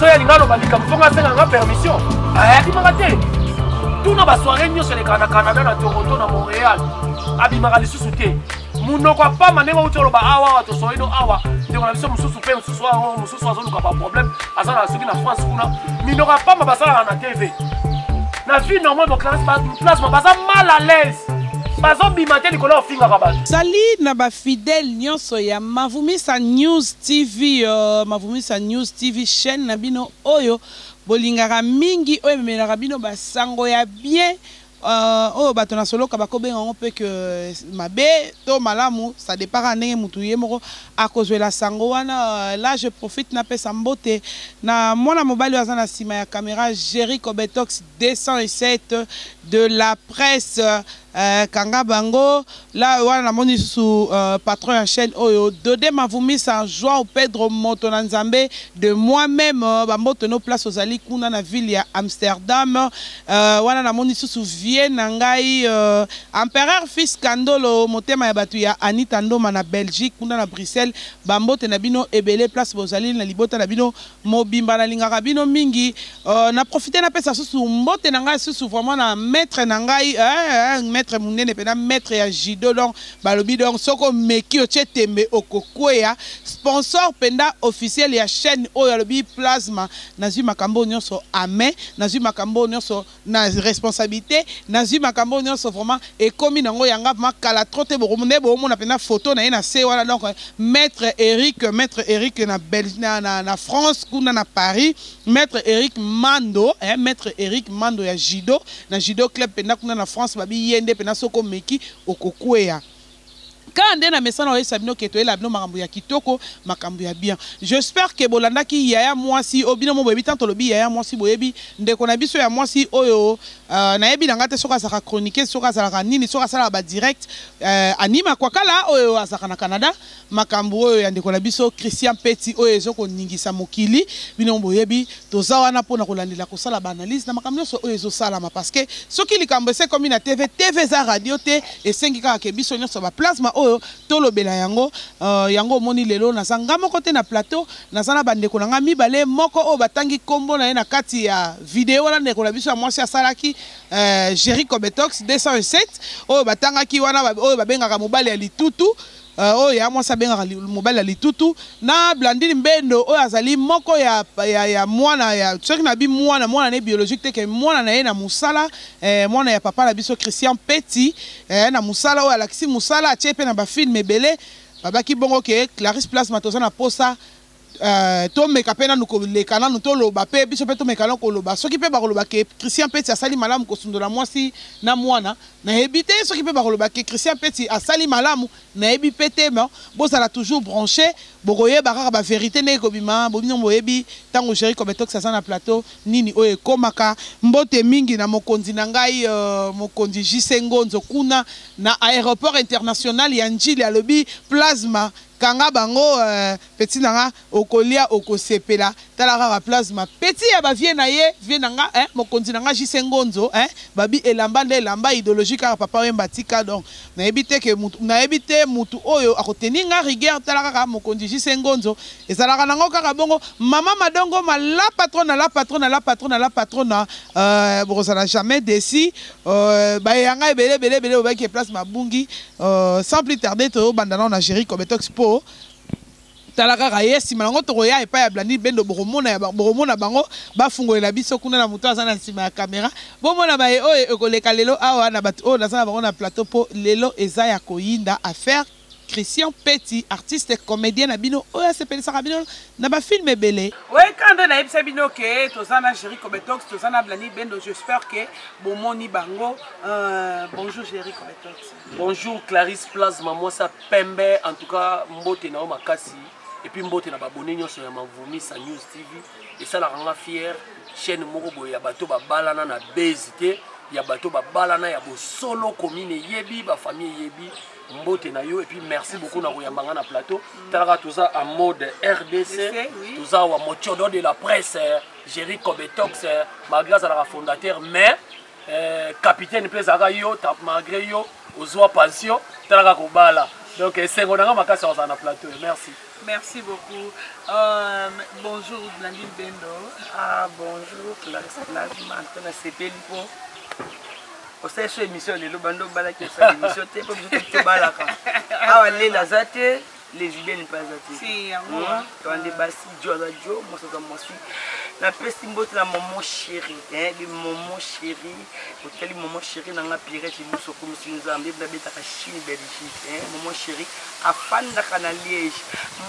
soki alinga aloba likambo fonga asenga nga permission ayakimaka te tuna basoire nyonso elekaka na canada na toronto na montréal abimaka lisusu te munoko apama ndenge outi oloba awa awa tosoyi no awa ndeko na biso mosusu mpe mosusu yango mosusu azoluka baproblème aza na soki na france kuna minoko apama basalaka na tv na vie normal boclasma baza mal à l'aise bazobima te likolo ofingaka bato sali na bafidele nyonso ya mavumisa news TV Mavumisa News TV chaine na bino oyo bolingaka mingi oyo ememelaka bino ba sango ya bien euh, oyo bato na soloka bakobenga yango mpe ke mabe to malamu ça dépend kaka ndenge motu ye moko akozwela sango wana euh, là je profite napesa mbote na mwana mobali oyo aza na nsima ya camera Jerry Cobetox 207 de la presse eh, kanga bango la wana namoni lisusu uh, patron ya chaîne oyo dode mavumisa joao pedro moto na nzambe de moi même euh, bamboto no place ozali kuna na ville ya amsterdam uh, wana namoni lisusu vie na ngai uh, empereur fils kandolo motema ya bato ya anita ndoma na belgique kuna na bruxelles bambote na bino ebele place bozali na libota na bino mobimba na lingaka bino mingi euh, na profite na pesa susu mbote na ngai susu vraiment na maître na ngai eh, eh, maître munene pena maître ya judo donc balobi donc soko meki otie tembe okokweya sponsor penda officiel ya chaîne oyo alobi plasma nazui makambo nyonso amen nazui makambo nyonso na responsabilite nazui makambo nionso vraiment ekomi na ngo yanga vraiment kala trop te boko nde bo mona pena photo na ye na se wana donc maître Eric maître Eric na bel na, na, na France kuna na Paris maître Eric Mando eh, maître Eric Mando ya judo na judo club pena kuna na France babi yende pena soko meki okokueya Kaka nde na mesana oyesa bino ke toyela bino makambo ya kitoko, makambo ya bien. J'espère que bolandaki yaya muasi oyo bino moko boyebi tant tolobi yaya muasi boyebi ndeko na biso ya muasi oyo euh, nayebi na nga te soki azalaka chroniqueuse soki azalaka nini soki asalaka ba direct euh, Annie Makwakala oyo azalaka na Canada makambo oyo ya ndeko na biso Christian Peti oyo ezo koningisa mokili bino boyebi Toza wana pona kolandela kosala ba analyse na makambo nyonso oyo ezosalama parce que soki likambo ese komi na TV, TV eza radio te, esengi kaka ke biso nyonso ba plasma oyo tolobela yango. Uh, yango omoni lelo naza nga moko te na plateau, naza na bandeko na nga mibale, moko oyo batangi kombo na ye na kati ya video wana ndeko na biso ya mwasi asalaki uh, Jerry Cobetox 207 oyo batangaki wana oyo babengaka mobali ya litutu Uh, oyo ya mwasi abengaka li, mobali ya litutu na Blandine Mbendo oyo azali moko ya, ya, ya mwana ya soki na bi mwana mwana ne biologique te ke mwana na ye na musala eh, mwana ya papa na biso Christian Peti eh, na musala oyo alakisi musala atie pe na ba film ebele babaki bongo ke Clarisse Plasma toza na posa Euh, tomeka mpe nanu koleka nanu toloba mpe biso mpe tomeka nanu koloba soki mpe bakoloba ke christian peti asali malamu kosundola mwasi na mwana nayebi te soki mpe bakoloba ke christian peti asali malamu nayebi mpe te ma bozala toujours branche bokoyeba kaka baverité ndenge kobima bobino boyebi ntango géri cometox aza na plateau nini oyo ekomaka mbote mingi na mokonzi na ngai uh, mokonzi jise ngonzo kuna na aéroport international ya njili alobi plasma Kanga bango euh petit na nga okolia okosepela tala kaka plasma petit ya ba vieux na ye vieux na nga eh mokonzi na nga JC Ngonzo eh babi elamba nde elamba idologie kaka papa wemba atika donc na yebi te ke mutu na yebi te mutu oyo ako tenir nga rigueur tala kaka mokonzi JC Ngonzo ezalaka na ngo kaka bongo maman madongo ma la patrona la patrona la patrona la patrona euh bokozala jamais desi euh ba ya nga ebele ebele ebele obaki place mabungi Euh, sans plus tarder tobanda nao na géri cobetox mpo tala kaka ye nsima yango tokoya epai ya blandi bendo bokomona bango bafungolela biso kuna na moto aza na nsima ya kamera bomona baye oyo ekoleka lelo awa na bato oyo naza na bango na plateau mpo lelo eza ya koyinda affaire christian peti artiste comédien na bino oyo asepelisaka bino na ba film ebele. Oui, quand on a yebisa bino que toza na Jerry Kobetox, toza na Blani Bendo, j'espère que bomoni bango. Euh, bonjour Jerry Kobetox. Bonjour Clarisse Plasma, moi ça pembe en tout cas mbote na makasi et puis mbote na babone nyonso ya Mavumi sa News TV et ça la ranga fière chaîne moko boye ya bato babalana na base te ya bato babalana ya bosolo commune eyebi bafamille eyebi mbote na yo et puis merci beaucoup na koyamba nga na plateau talaka toza en mode rdc toza wa mochodo de la presse géri cobetox malgré azalaka fondateur mais euh, capitaine mpe ezalaka yo malgré yo ozwa pension talaka kobala donc esengo na nga makasi akozala na plateau merci Merci beaucoup. Euh, bonjour, Blandine Bendo. Ah, bonjour, Clarisse Blandine. Je suis osali so émission lelo bando obalaki osala émission te mpo biso toki tobalaka awa lela aza te lesbienne mpe aza te hmm? towande basi jo aza jo mwasi aza mwasi napesi mbote na momo chéri de momo chéri otali momo chéri na nga pirete lusu okomisi nzambe nabetaka chine belgique momo chéri afandaka na liège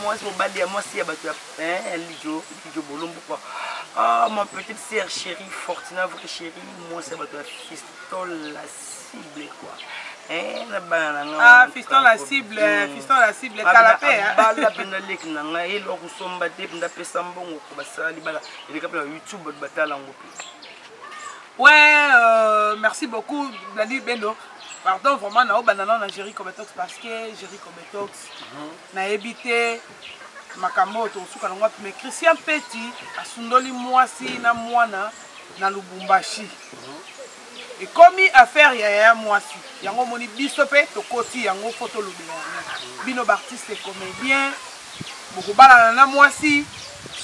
mwasi mobali ya mwasi ya bato ya lijo lijo bolombo kua ah, mon petite sœur chéri fortina vrai chéri mwasi ya bato ya fistol la cible quoi eh, na bana na nga ah, fiston la cible eh, hmm. fiston la cible kala mpe eh. bala mpe naleki na ngai eloko kosomba te mpe ndapesa mbongo ko basala libala eleka mpe na youtube bato batala yango mpe we euh, merci beaucoup bladi bendo pardon vraiment naobanda nao na géri cometox parce que géri cometox mhm. nayebi te makambo oyo tokosuka nango wapi mais christian peti asundoli mwasi na mwana na lubumbashi ekomi affaire ya yaya mwasi yango omoni biso mpe tokoti yango mpo tolobela yango bino baartiste comédien bokobalana na mwasi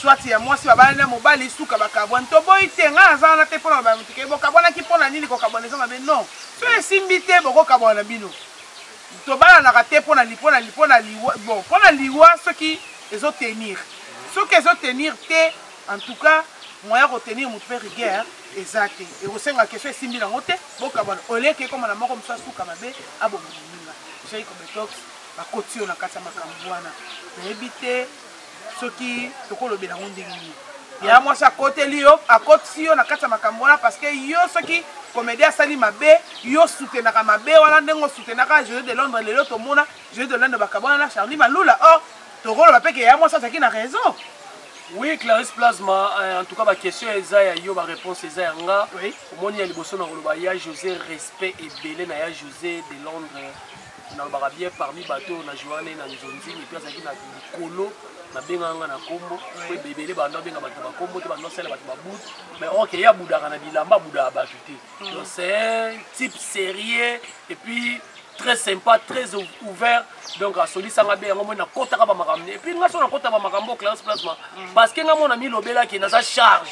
swati ya mwasi babalani na mobali suka bakabwani toboyi te ngai naza wana te mpo na bamoto ke bokabwanaki mpo na nini kokabwana eza mabe non so esimbi te bokokabwana bino Tobalanaka te pona li pona li pona liwa bon pona liwa soki ezo tenir soki ezo tenir te en tout cas moyen ya ko tenir mutu pe rigueur eza te ekosenga question esimbi nango te bokabwana au lieu ke ekoma na moko mosusu asuka mabe aboma moninga Jay Kobetox bakoti yo na kati ya makambo wana nayebi te soki tokolobela yango ndenge nini ya mwasi akoteli yo akotisi yo na kati ya makambo wana parce que yo soki comédien asali mabe yo soutenaka mabe wana ndenge osutenaka jeu de londres lelo tomona jeu de londres bakabwana na charli malula or tokoloba mpe ke ya mwasi azalaki na raison oui clarisse plasma euh, en tout cas baquestion eza ya yo baréponse eza ya nga omoni ya liboso na koloba ya josé respect ebele na ya josé de londres nalobaka bien parmi bato oyo na joua nde na nzonzini mpe azalaki na likolo nabengaka nga na nkombo mpo ebele banda obenga bato na bankombo te banda osala bato babut mais ok ye abudaka na bilamba abudaka bato te mm. donc c'est un type sérieux et puis très sympa très ouvert donc asolisanga be yango moi nakotaka bamakambo ne epuis nga so nakota bamakambo clarence plasma mm. parce que nga mona milobelaki naza charge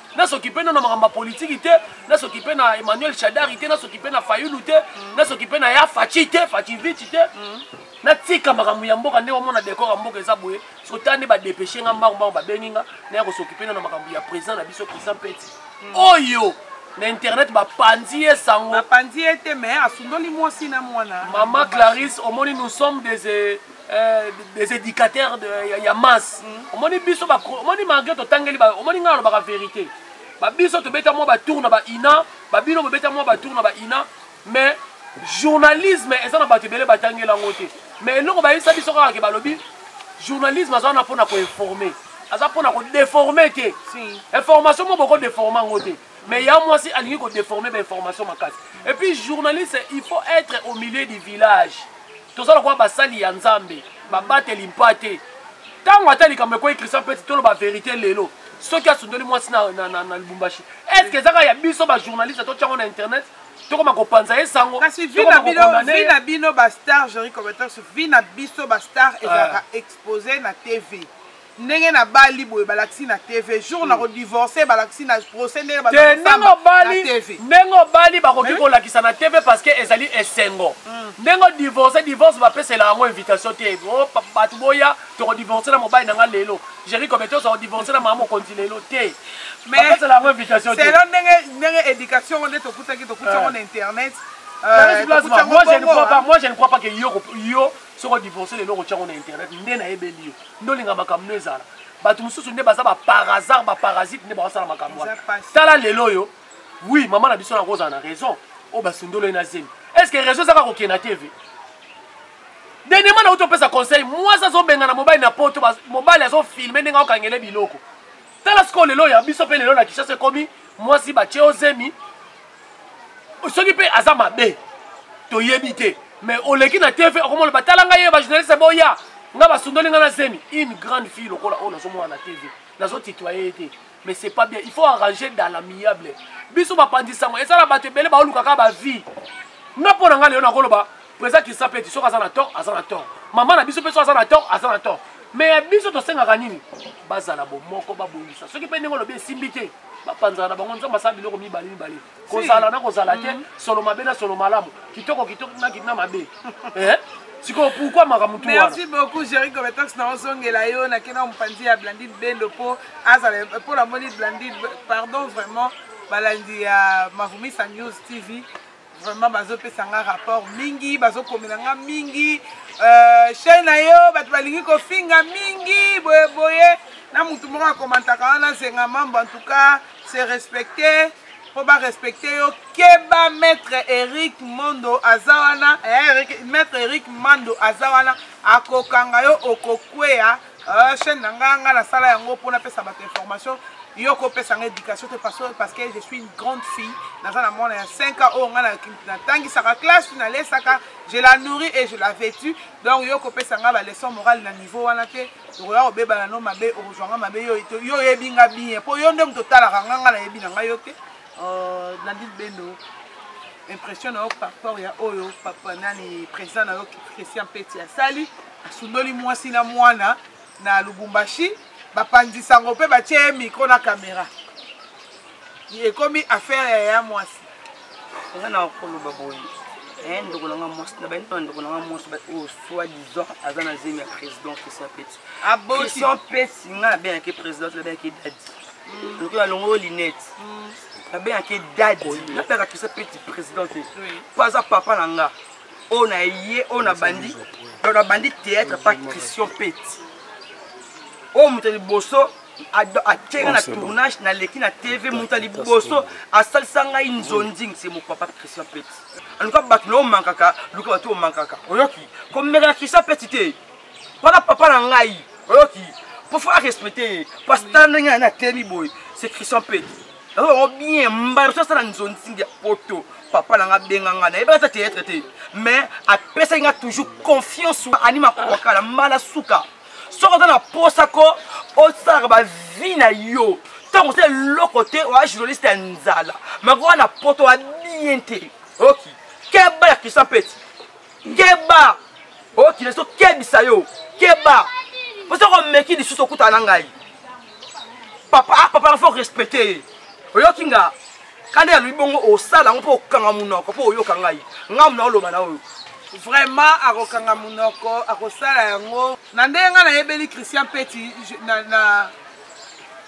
na soki mpe na makambo ya politiki te na soki mpe na emmanuel shadari te na soki mpe na fayulu te mm. na soki mpe na ya faci te facivici te mm. natika makambo ya mboka ndenge omona dekor ya mboka eza boye sota nde badepeshe nga mbango mbango babengi nga naya kosoki mpe na makambo ya président na biso président peti mm. oyo na internet bapanzi ye sango bapanzi ye te mais asundoli mwasi na mwana mama clarisse omoni nous sommes des Euh, des éducateurs de, ya, ya masse mm. omoni biso omoni malgré totangeli omoni ngai alobaka vérité babiso tobeta mwa batour na baina babino bobeta mwa batour na baina mais journalisme eza na bato ebele batangeli yango te mais eloko bayebisa biso kaka ke balobi journalisme aza wana mpona koinforme aza mpona kodeforme te information mo boko deforme yango te mais ya mwasi alingi kodeforme bainformation makasi et puis journaliste il faut être au milieu du village toza lokola basali ya nzambe babateli mpa te ntango ata likambo ekwei christian peti toloba verité lelo soki asundoli mwasi na, na, na, na lubumbashi est ce que ezaka ya biso bajournaliste totyango na internet tokoma kopanza ye sango kasi vi na bino bastar jeri combattant vi na biso bastar ezalaka ah. expose na tv ndenge na bali boye balakisi na tv jour hmm. na kodivorce balakisi na procès ndenge ndenge obali bakoki kolakisa na tv parce que ezali esengo hmm. ndenge odivorce divorce bapesela yango invitation te oh, bato boya tokodivorce na mobali na nga lelo jeri kobete oza kodivorce na mama mokonzi lelo te bapesela yango invitation te selo ndenge éducation ngo nde tokutaki tokuti yango na internet euh, moi je ne crois pas que yo soki odivorce lelo okotya yango na internet nde nayebeli yo nde olinga makambo no ezala bato mosusu nde baza baparasard baparasite nde bakosala makambo wana tala lelo oyo wi mama na biso na kozala na raison oyo basundolo ye na zemi est ce que raison ezaka kokende na tv denema na uti opesa conseil mwasi azobengana mobali na poto mobali azofilme ndenge akokangele biloko tala sikoyo lelo ya biso mpe lelo na kishasa ekomi mwasi batye o zemi soki mpe aza mabe toyebi te mais oleki na tv okomona batala ngai ye bajournaliste boya nga basundoli nga na zemi une grande fille lokola oyo nazomona na tv nazotitoye ye te mais c'est pas bien il faut arranger dans l'amiable biso bapanzi sango eza na bato ebele baolukaka bavie nga mpo na ngai lelo nakoloba Président Kisapeti soki aza na tort aza na tort. Maman na biso pe soki aza na tort aza na tort. Mais ya biso tosengaka nini? Bazala bomoko babongisa. Soki pe ndenge olobi esimbi te bapanzana na bango nzambe asala biloko mibale mibale kozala na kozala te mm. solo mabe na solo malamu kitoko kitoko na kitina mabe eh? sikoyo pourkui makambo tu merci beaucoup géri compétence na ozongela yo nakenda mopanzi ya blandine bendo mpo azala mpo namoni blandine pardon vraiment balandi ya mavumisa news tv vraiment bazopesa nga rapport mingi bazokomela nga mingi euh, chaine na yo bato balingi kofinga mingi boyeboye na motu moko akomantaka wana zenga mambo en tout cas se respecte mpo barespecte yo keba maître eric mondo aza wana eh, maître eric mando aza wana akokanga yo okokweya Euh, chaîne na nga nga nasala yango mpo napesa bato information yo kopesa nga éducation te parce que je suis une grande fille naza na mwana ya 5 ans oyo nga natangisaka classe nalesaka je la nourris et je la vêtu donc yo kopesa nga baleçon morale na niveau wana te okoya kobebana no mabe okozwa nga mabe yo oyebi nga bien mpo yo nde moto otalaka nga nga nayebi na nga yo te euh, nadine bendo impression na yo par rapport ya oyo papa nani président na yo christian peti asali Asundoli mwasi na mwana na Lubumbashi, bapanzi sango mpe batye ye mikro na kamera. Ekomi affaire ya ya mwasi. Eza na koloba boye eh, ndeko na nga mwasi na bayini na ndeko na nga mwasi oyo oh, soit disant aza na zemi ya président christian peti ah, christian peti nga nabengaki président nabengaki dadi mm. lokola alongo oyo linete mm. nabengaki dadi nabengaka christian peti président te mpo aza papa na nga oyo na ye oyo na bandi donc na bandi théâtre pa christian peti oyo moto ya liboso atyeka na tournage naleki na tv moto ya liboso asalisa ngai nzonzing se mopapa christian peti aluka bato na omankaka luka bato omankaka oyoki komeka na christian peti te mpona papa na ngai oyoki mpo fo arespecte ye pasita ndenge na temi boye se christian peti naza bango bien mbala so asala nzonzingi ya poto papa na nga abenga nga nayebaka ata théâtre te mais apesaki nga toujours confiance anima kokala mbala suka soki oza na posa ko osalaka bavie na yo ntango osala eloko te oya journaliste ya nzala makoka na poto abien te oki keba ya christian peti keba okila oh, ezokebisa yo keba mpo soki omeki lisusu okutana na ngai papa ah, papa fo respecte ye oyoki nga kanda ya loyi bongo osala yango mpo okanga monoko mpo oyoka ngai ngai mona oloba na oyo vraiment akokanga monoko akosala yango na ndenge ngai nayebeli christian peti na,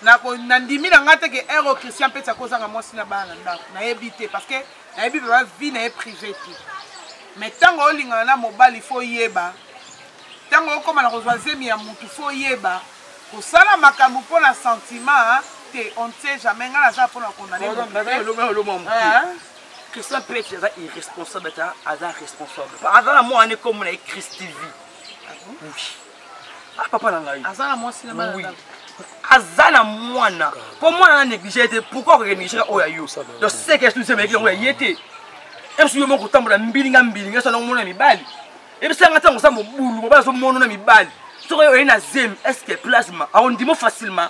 na nandimi na ngai te ke ero christian mpe akozanga mwasi na bana na ndako nayebi te parce que nayebi baba vie na ye privé te mais ntango olingana na mobali fo oyeba ntango okóma na kozwa zemi ya motu fo oyeba kosala makambo mpo na sentiment te on ne sait jamais ngai naza mpo na kondaneoloma christian pete aza irresponsable ata aza responsable aza na mwana ekomona ye christivi ah oui ah papa na ngai aza na mwasi na bana aza na mwana mpo mwana na néglige ye te pourkoi okeke négligeka oyo ya yo donc seke esu nzembeleki yango ya ye te esu yo moko kotambola mbilinga mbilinga esu anango mona mibali ebisanga ntango oza mobulu mobali azomonona mibali soki oye na zemi estce plasma aondimo facilement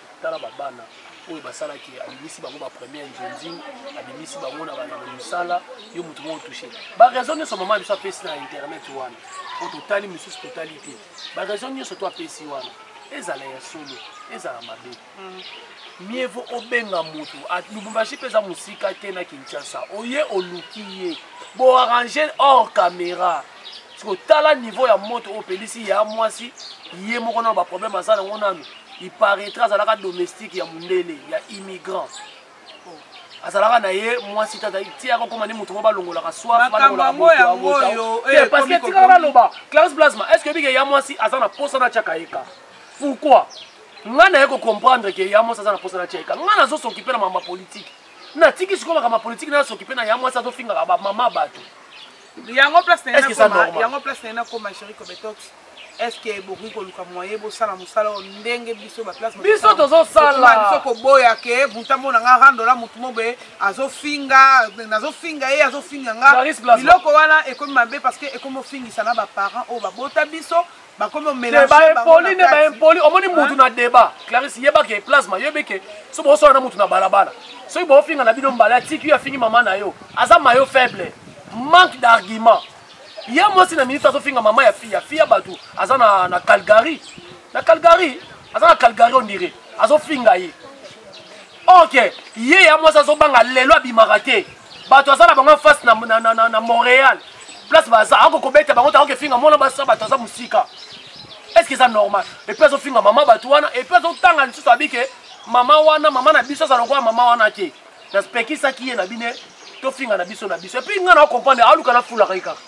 tala babana oyo basalaki abimisi bango bapremier nzonzing abimisi bango na bana mosala yo motu moko touche baraison nyonso mama biso apesi na internet wana po totali mosusu totali te baraison nyonso to apesi wana ezala ya solo ezala mabe mm. mieux vaut obenga motu lubumbashi mpe eza mosika te na kinshasa oye oluki ye boarrange hors caméra siko tala niveau ya moto oyo opelisi ya mwasi ye moko nano baproblème aza nango nano iparaître azalaka domestique ya mondele ya immigrant azalaka na ye mwasi tata ti akokoma ni moto moko balongolaka soifparceke tika baloba classe plasma est ce que ebike ya mwasi aza na posa na tiaka ye ka pourquoi ngai naye kocomprendre ke ya mwasi aza na posa na tiaka ye ka ngai nazosokipe na mama politike natiki sikoyo makambo ya politike nayosokipe na ya mwasi azofingaka bamama bato yango place na Est-ce que ça ye nakoma- normal? yango place na ye nakoma chéri kobetox estce bokoki koluka moye bosala mosala oyo ndenge biso baplace Biso tozosala. biso koboya ke buntambo na nga randola motu mobe azofinga nazofinga ye azofinga nga Clarisse Plasma. biloko wana ekomi mabe parce que ekomi ofingisa na baparent oyo babota biso baempoli nde baempoli omoni mutu na débat clarisse yeba ke plasma yebi ke so bosola na mutu na balabala soki bofinga na bino mbala atiki yo afingi mama na yo aza mayo faible manque d'argument ye mwasi na minute azofinga mama ya fiya fiya bato aza na, na calgary na calgary aza na calgary ondire azofinga ye ok ye ya mwasi azobanga lelo abimaka te bato aza na bango face na, na, na, na, na montréal place baza ako kobeta bango tango kefinga mwana basa bato aza mosika est ce que eza normal epuis azofinga mama bato wana epuis azotanga lisusu abi ke mama wana mama na biso aza lokola mama wana te naspekisaki ye na bine tofinga na biso na biso epuis ngai na comprendre aluka nafulaka ye kaka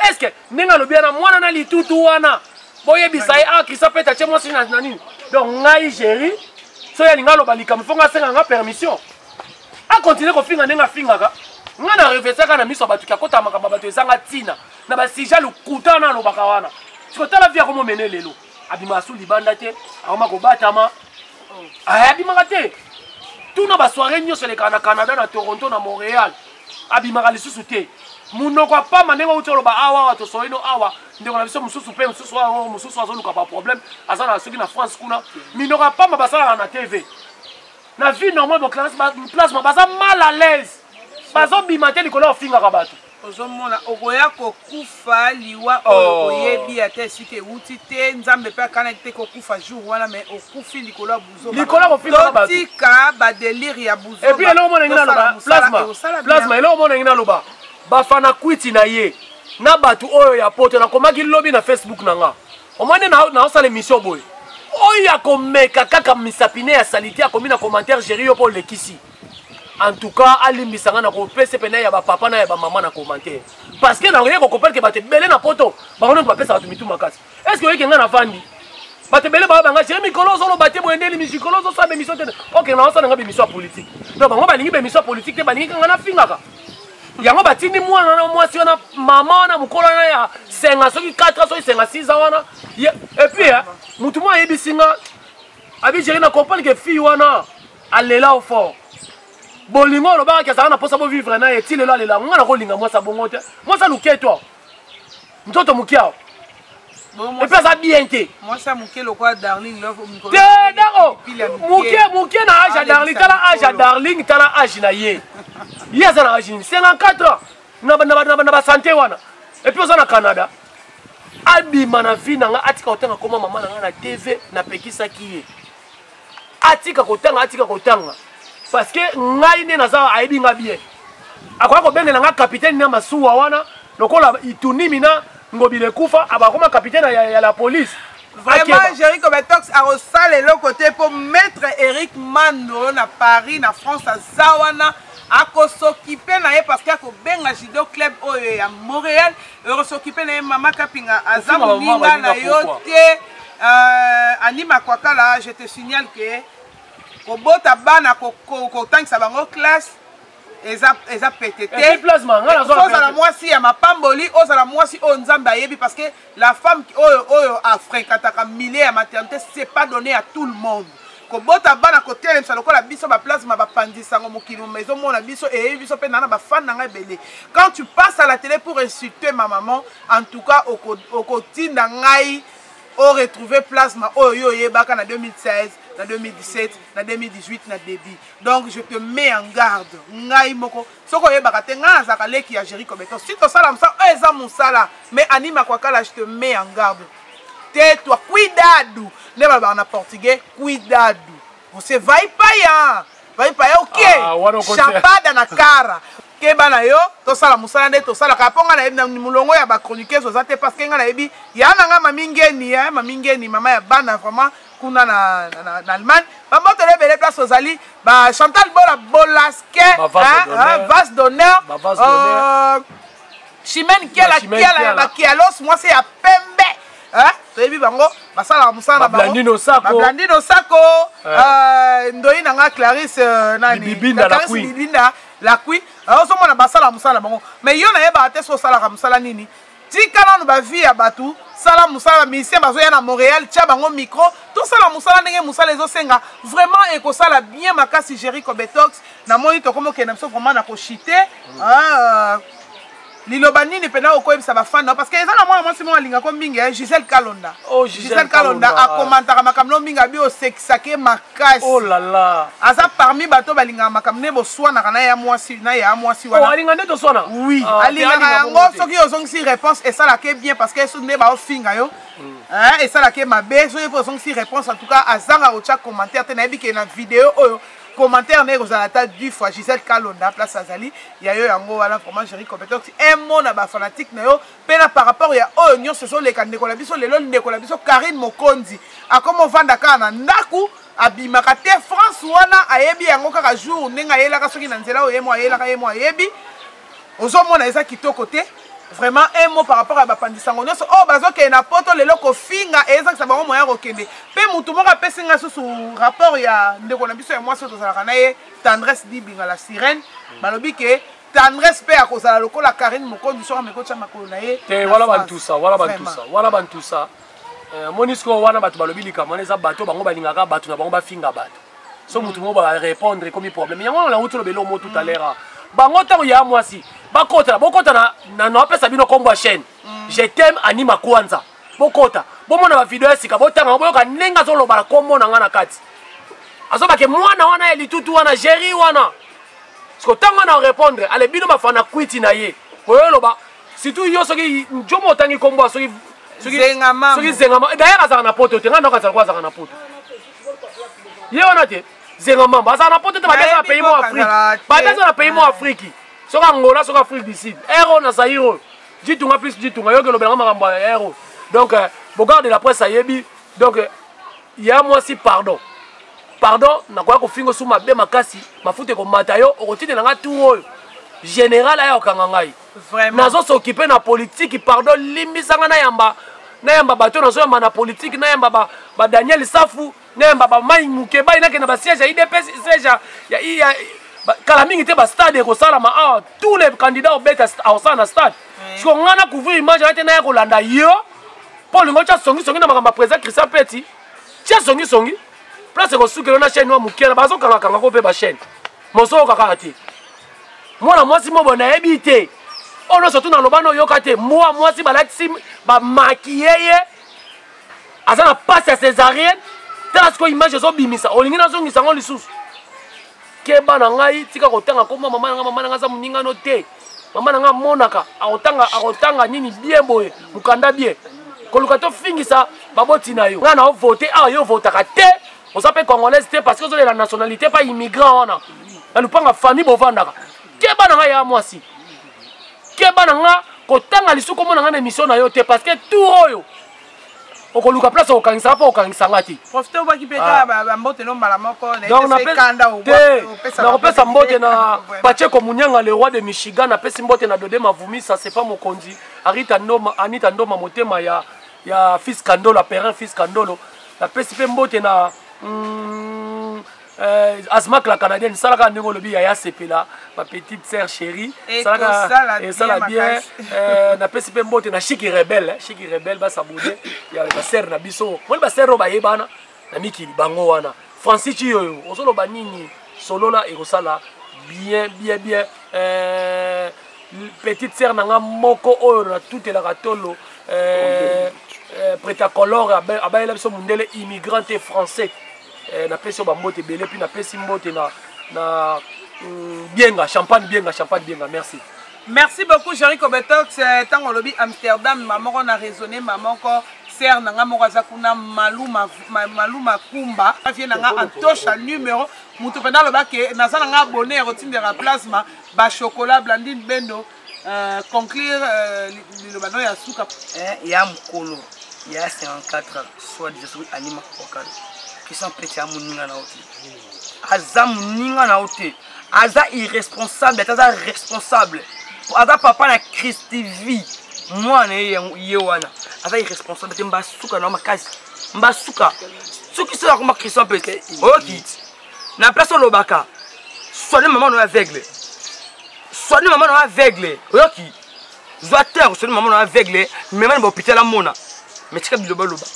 est ce que ndenge alobi wana mwana na litutu wana boyebisa ye ah krista pete atie mwasi na nini donc ngai géri soki alinga aloba likambo fo ngai asenga nga permission akontinue kofinga ndenge afingaka ngai na reflesaka na miso ya bato kiakotala makambo ya bato ezanga ntina na basija lokuta wana alobaka wana sikotala vi akomomene lelo abimaka su libanda te akoma kobatama eh, abimaka te tuna basoire nyonso elekaka na canada na toronto na montréal abimaka lisusu te monoko apama ndenge outi oloba awa awa tosoi no awa ndeko na biso mosusu mpe mosusu awa mosusu azoluka baproblème aza na soki na france kuna minoko apama basalaka na tv na vie normale place baza mal à l'aise bazobima te likolo ya ofingaka bato ozomona okoya kokufa liwa oyo oh. oyebi ata esika ewuti te nzambe mpe akanaki te kokufa jour wana mai okufi likolo ya buzototika badelire ya buzoepuis eloko mona ngi naloba plasma eloko mona ngi naloba bafana kwiti na ye na bato oyo ya poto nakomaki lobi na facebook na nga omoni naosala emission boye oyo akomeka kaka misapine ya salite akomi na commentaire geri yo mpo olekisi en tout cas alimbisa nga na kopesa pena ya bapapa na ya bamama na commentaire parce que naye kokoperke bato ebele na poto bango nde bapesa bato mitu makasi est ce que oyeke nga na vandi bato ebele baoyo banga je mikolo ozoloba te boye nde limikolo ozosala bemission te ok na osala nga bemission ya politique donc bango balingi bemission ya politique te balingi kanga nafingaka yango batindi mwana wana mwasi wana mama wana mokolo wana ya senga soki 4 ans soki senga 6 ans wana epuis motu moko ayebisi nga abi jeri na comprendre ke fille wana alela o fort bolingo olobaka ke azalaka na mposa bovivre na ye ti lelo alela yango ngai nakolinga mwasi abongo te mwasi aluke to nzoto moke awa epe aza bien te te dako moke moke na age ya darling tala age ya darling tala age na ye ye aza na age nini 54 ans na basante wana epuis oza na canada abima na vie na ngai atika kotanga koma mama na ngai na tv napekisaki ye atika kotanga atika kotanga parce que ngai nde naza ayebi nga bien akoya kobengela nga kapitene na masuwa wana lokola itunimi na ngobila ekufa abakoma kapitene ya, ya la police vraiment jeriko ah, betox akosala eloko te mpo maître eric mando na paris na france aza wana akosokipe na ye parce que akobenga judo club oyo ya montréal Eurosokipe na ye mama Kapinga aza moninga na yo te euh, Annie Makwakala je te signale que kobota bana kotangisa bango classe eza eza pete te ozala mwasi ya mapamboli ozala mwasi oyo nzambe ayebi parce que la femme oyo oyo afréquentaka milieu ya maternité c'est pas donné à tout le monde kobota bana kotelemisa lokola biso baplasma bapanzi sango mokili moma ezomona biso eyebi biso mpe nana bafani na ngai ebele quand tu passe à la télé pour insulter ma maman en tout cas okotinda oko ngai oretrouve plasma oyo yo oyebaka na 2016 na 2017 na 2018 na début donc je te mets en garde ngai moko soki oyebaka te ngai nazalaka leki ya géri cobeton si tosala mosala oyo eza mosala mais anima kwakala je te mets en garde Tais toi, cuidado. Nde balobaka na portugais, cuidado. Você vai paia. Vai paia o quê? Ah, Chapada na cara. keba na yo tosala mosala nde tosalaka mpo ngai nayebi na molongo ya bachroniqueuse oza te parce que ngai nayebi ya na ngai mami ngeni ya mami ngeni mama ya bana vraiment kuna na, na, na, na allemagne bamoto na ebele place ozali bachantal bola bolaske vase d'honneur chimene kiala kiala ya bakialos mwasi ya pembe toyebi bango basalaka mosala na bangoblandino sako eh. eh, ndoi na nga clarisse eh, nanibibinda lakui ozomona basalaka mosala na bango mai yo nayebaka te so osalaka mosala nini tika nano bavie ya bato sala mosala musicien bazoya na montréal tya bango micro tosala mosala ndenge mosala ezosenga vraiment ekosala bien makasi gerico betox namoni tokomi okenda biso vraiment na koshite mm. ah, euh, liloba nini mpena okoyebisa bafani nao parce que eza na mwana mwasi moko alingako mingi eh, gisele kalonda oh, gisele kalonda akomantaka makambo nao mingi abi osekisake makasi oh aza parmi bato balingaka makambo nde boswanaka na ya mwasi na ya mwasi wanaalinga oh, nde toswana oui ah, alingaka yango soki ozongisi réponse esalaka bien parce que soki nde baofinga yo mm. eh, esalaka mabe soki ozongisi réponse en tout cas azanga kotya commentaire te nayebi ke na video oyo commentaire na ye ekozala ata du fois gisele kalonda place azali ya yo yango wana vraiment jeri compétence emona bafanatique na yo mpe na par rapport ya oyo nyonso ezoleka ndeko na biso lelo ndeko na biso karine mokonzi akoma ovanda kaka na ndako abimaka te france wana ayebi yango kaka jour ndenge ayelaka soki na nzela oyo ye mo ayelaka ye mo ayebi ozomona eza kitoko te vraiment un mot par rapport ya bapanzi sango nyonso oyo oh, bazokende na poto lelo kofinga ezakisa bango moya kokende mpe motu moko apesi ngai susu rapport ya ndeko na biso ya mwasi oyo tozalaka na ye tendresse dibinga la sirène balobi ke tendresse mpe akozala lokola karine mokondi soki ameki otya makolo na ye te wana bantusa wana bantusa wana bantusa eh, moni sikoyo wana bato balobi likambo wana eza bato bango balingaka bato na bango bafinga bato so motu moko barépondre ekomi problème yango wana nauti olobela omo tout à l'heure ah. bango ntango ya mwasi bakotana bokotana napesa bino nkombo ya chaîne mm. je t'aime anima kwanza bokota bomona bavideo ya sika botanga yango boyoka ndenge azoloba na nkombo na ngai na kati azobake mwana wana ya litutu wana géri wana siko ntango wana orépondre ale bino bafana kwiti na ye oyo oloba surtout yo soki njomo otangi nkombo soki zengama d'ailleurs azalaka na poto te ngai noko azalaka azalaka na poto ye wana te zenga mamba azala na poto te babi aza na pays mo afrique babi aza na pays mo afriki soki angola soki afrique du sud air oyo na zaire oyo jitunga plus jitunga yoki elobelanga makambo ya air oyo donc euh, bogarde de la presse ayebi donc euh, ya mwasi pardon pardon nakoya kofinga osu mabe makasi mafuta ekomata yo okotindela ngai tour oyo général aya kokanga ngai nazo s'occuper na politique pardon limbisa nga nayamba nayamba bato nazoyamba na politique nayamba ba, ba daniel safu nayamba bamai mukebai nakenda basiège ya idps siège ya, ya kala mingi te bastade ekosalama awa tous les candidats obeta akosala na stade siko ngai na couvrir image aya te naya kolanda yo mpo olingo tya songisongi na makambo ya président christian peti tya songisongi place ekosukelo na chaîne wa moke na bazokangakanga ko mpe bachaîne mozoyoka kaka te mwana mwasi mobo nayebi te oyo nyonso tu naloba noyoka te mwa mwasi balatisi bamakiye ye aza na mpasi ya césarienne tala sikoyo image ezobimisa olingi nazongisa yango lisusu keba na ngai tika kotanga koma mama na ngai mama na ngai aza moningano te mama na ngai amonaka akotanga akotanga nini bie boye mokanda bie koluka tofingisa baboti na yo ngai na ovote awa yo ovotaka te oza mpe congolaise te parce que ozolela nationalité mpa immigrant wana na lupanga famille bovandaka keba na ngai ya mwasi keba na nga kotanga lisuku omona ngai na émission na yo te parce que tour oyo okoluka place okokangisa nga mpo okangisa nga te profite obwaki mpe kaka ah. bambote no mbala moko nakopesa mbote na pacheko munyanga le roi de michigan napesi mbote na dode mavumisa sefa mokonzi arita ndoma anita ndoma motema ya ya fils kandolo aperin fils kandolo napesi mpe mbote na mm, eh, azmak la canadienne esalaka ndenge olobi yaya sepela ma petite sœur chérie esalaka esala bien eh, napesi mpe mbote na shiki rebel eh, shiki rebel basabode ya basere na biso moni basere oyo bayebana na mikili bango wana francis ciyoyo ozoloba nini solola ekosala bien bien bien euh, petite sœur na nga moko oyo natutelaka tolo euh, euh, pretacolore abayela biso mondele immigrante français euh, napesi yo bambote ebele mpe napesi mbote na, na mm, bienga champagne bienga champagne bienga merci merci beaucoup jerry kobetox ntango euh, olobi amsterdam ma moko na raisonne ma moko sere na ngai moko aza kuna maluma maluma kumba vie na ngai antosha numero moto mpenza aloba ke naza na ngai abone ya kotindela plasma bachokola blandine bendo euh, conclure euh, liloba no ya suka eh, ya mokolo ya 54 soit disant soki alima kokana question pete ya moninga na yo te aza moninga na yo te aza irresponsable ata aza responsable aza papa na christivie mwana ye yango ye wana aza irresponsable te mbasuka na yo makasi mbasuka soki soki akoma christian mpe te oyokiti na place olobaka soigne mama na yo aveugle soigne mama na yo aveugle oyoki zwa te akosoni mama na aveugle mema na bahopital amona me tika bilobaloba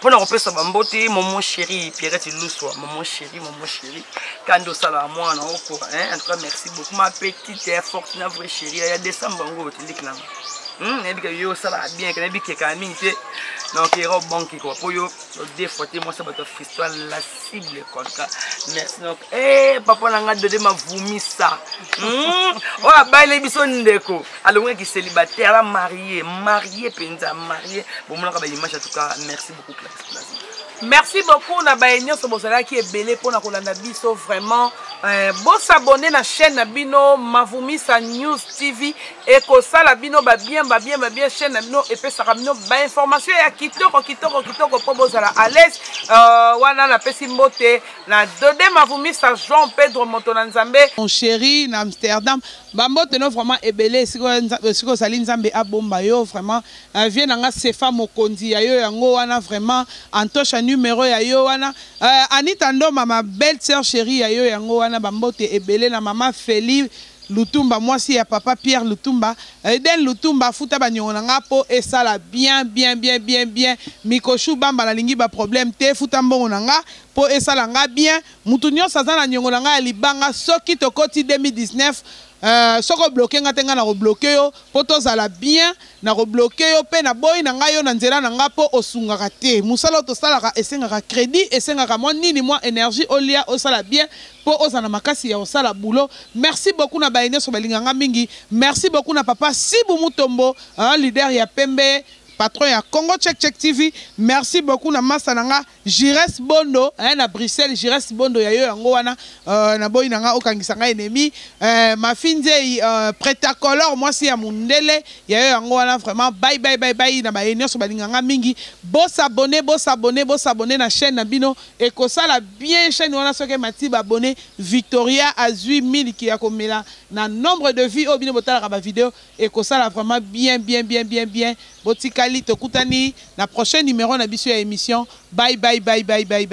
mpo na kopesa bambote momo chéri pierrete luswa momo chéri momo chéri kandi osalaka mwana oko en tout cas merci beaucoup ma petite ya forte na vrai chéri ya décembre yango otindiki nanga hmm, nayebi ke yo osalaka bien ke nayebi kekaka mingi te donc ero banki kua mpo yo odefwate mwasi ya bato ya fisto la cible konka merci donc e eh, papa na ngai dode mavumisa hmm? oyo abaile biso ndeko alongaki célibataire la marie marie mpenza marie bomonaka baimage en tout cas merci beaucoup place merci beaucoup na baye nyonso bozalaki ebele mpona kolanda biso vraiment euh, bosabone na chaîne na bino mavumisa news tv ekosala bino ba bien ba bien ba bien chaîne na bino epesaka bino ba information ya kitoko kitoko kitoko mpo bozala à l'aise uh, wana napesi mbote na dode mavumisa jean pedro moto na nzambe mon chéri na amsterdam bambote no vraiment ebele esika ozali nzambe abomba yo vraiment uh, vie na nga sefa mokonzi ya yo yango wana vraiment antosha numero ya yo wana uh, anita ndoma ma belle sœur chérie ya yo yango wana bambote ebele na mama feli Lutumba mwasi ya papa Pierre Lutumba Eden Lutumba afuta ba niongo na nga po esala bien bien bien bien bien Mikochou bamba na lingi ba problème te futa mbongo na nga po esala nga bien mutu nionso aza na niongo na nga ya libanga soki tokoti 2019 euh soki o bloque nga te nga nako bloque yo po tozala bien nako bloque yo pe na boyi na nga yo na nzela na nga po osungaka te musala oyo tosalaka esengaka credit esengaka mwa nini mwa energie olia osala bien po oza na makasi ya kosala boulot merci beaucoup na baye nioso balinga nga mingi merci beaucoup na papa sibu mutombo hein, leader ya pembe patron ya congo check check tv merci beaucoup na masta na nga gires bondo hein, na bruxelles gires bondo ya yo yango wana euh, na boyi na nga okangisa nga ennemi euh, mafi nzei euh, pretacolor mwasi ya mundele ya yo yango wana vraiment bye bye bye bye na baye nioso balinga nga mingi bosabone bosabone bosabone na chaîne na bino Ekosala bien chaine wana soki emati ba abonnes Victoria azui miliki ya komela na nombre de vue oyo bino botalaka ba video ekosala vraiment bien bien bien bien bien botikali tokutani na prochain numero na biso ya emission bye bye bye bye bye bye.